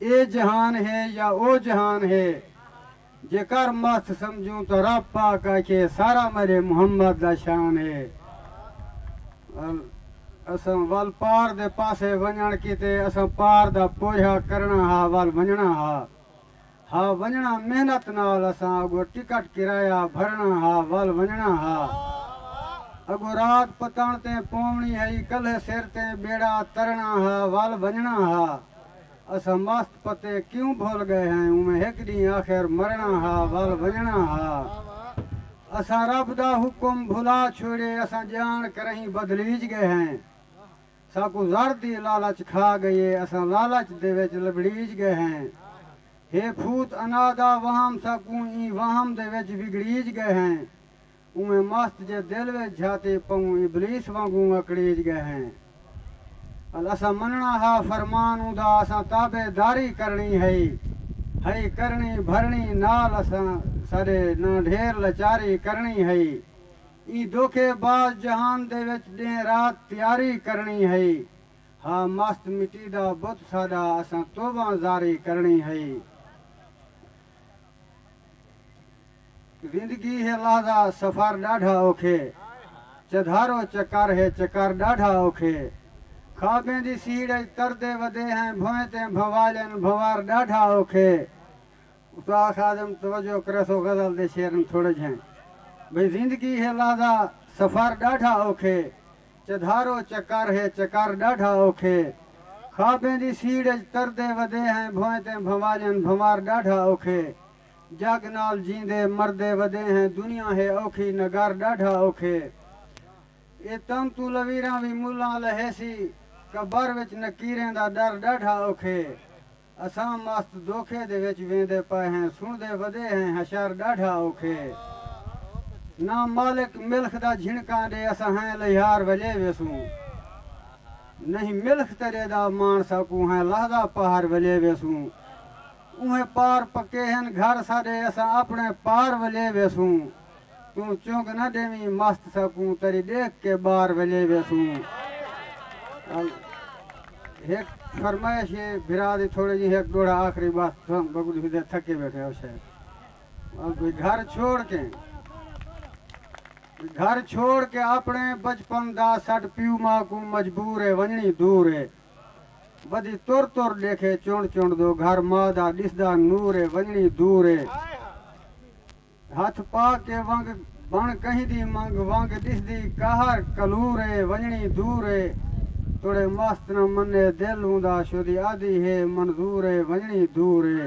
اے جہان ہے یا او جہان ہے جے کر مست سمجھوں تاں رب پاک آکھے سارا میڈے محمد دا شان ہے ال اساں ول پار دے پاسے ونجنڑ کیتے اساں پار دا پوجھا کرنڑاں ہا ول ونجنڑاں ہا ہا ونجنڑاں محنت نال اساں اگو ٹکٹ کرایہ بھرنڑاں ہا ول ونجنڑاں ہا اگو رات پتنڑ تیں پونڑی ہئی کلھے سر تیں بیڑا ترنڑاں ہا ول ونجنڑاں ہا۔ اساں مست پتے کیوں بھل گئے ہیں اوویں ہک ڈینہہ آخر مرنڑاں ہا ول ونجنڑاں ہا اساں رب دا حکم بھلا چھوڑیے اساں جان کرہیں بدلیج گئے ہیں ساکوں زر دی لالچ کھا گئی اے اساں لالچ دے وچ لبڑیج گئے ہیں ہے پھوت انا دا وہم ساکوں ایں وہم دے وچ وگڑیج گئے ہیں اونویں مست جے دل وچ جھاتے پئوں ابلیس وانگوں اکڑیج ڳئے ہیں۔ ال اساں منݨا ہا فرمان اوندا اساں تابع داری کرݨی ہئی ہئی کرݨی بھرݨی نال اساں ساݙے نہ ڈھیر لچاری کرݨی ہئی ایں دھوکے باز جہان دے وچ ݙینہ رات تیاری کرݨی ہئی ہا مست مٹی دا بت ساݙا اساں توباں زاری کرݨی ہئی۔ زندگی ہے لحظہ سفر ݙاڈھا اوکھے چدھارو چکر ہے چکر ݙاڈھا اوکھے خوابیں دی سیڑھ اچ تردے ودے ہیں بھوئیں تیں بھوالن بھنور ݙاڈھا اوکھے استاد خادم توجہ کریسو غزل دے شعرن تھوڑے جھیں بھئی زندگی ہے لحظہ سفر ݙاڈھا اوکھے چدھارو چکر ہے چکر ݙاڈھا اوکھے خوابیں دی سیڑھ اچ تردے ودے ہیں بھوئیں تیں بھوالن بھنور ݙاڈھا اوکھے۔ جگ نال جیندے مردے ودے ہیں دنیا ہے اوکھی نگر ڈاڈھا اوکھے اے تم توں لویراں وی ملاں لہیسی قبر وچ نکیریں دا ڈر ڈاڈھا اوکھے اساں مست دوکھے دے وچ ویندے پئے ہیں سنڑدے ودے ہیں حشر ڈاڈھا اوکھے نہ مالک ملخ دا جھنکاں ڈے اساں ہیں لہیار ولے ویسوں نہیں ملخ تیرے دا مانڑ ساکوں ہیں لہدا پہر ولے ویسوں۔ اوہیں پار پکے ہن گھر ساڈے اساں اپنے پار ولے ویسوں توں چنگ نہ ڈیویں مست ساکوں تری ڈیکھ کے بار ولے ویسوں ال ہک فرمائش ہے بھرا دی تھوڑی جی ہک ڈوڑا آخری بس تھم بگڑی ہو دے تھکے بیٹھے ہو شے ال کوئی گھر چھوڑ کے گھر چھوڑ کے اپنے بچپن دا سڈ پیو ماں کو مجبور ہے ونجنی دور ہے ودی تر تر ڈیکھے چنڈ چنڈ دو گھر ماء دا ڈسدا نور اے ونجنی دور اے ہتھ پا کے ونگ بن کہیں دی منگ ونگ ڈسدی قہر کلور اے ونجنی دور اے توڑے مست نہ منے دل اوندا شودی آدھی ہے منظور اے ونجنی دور اے۔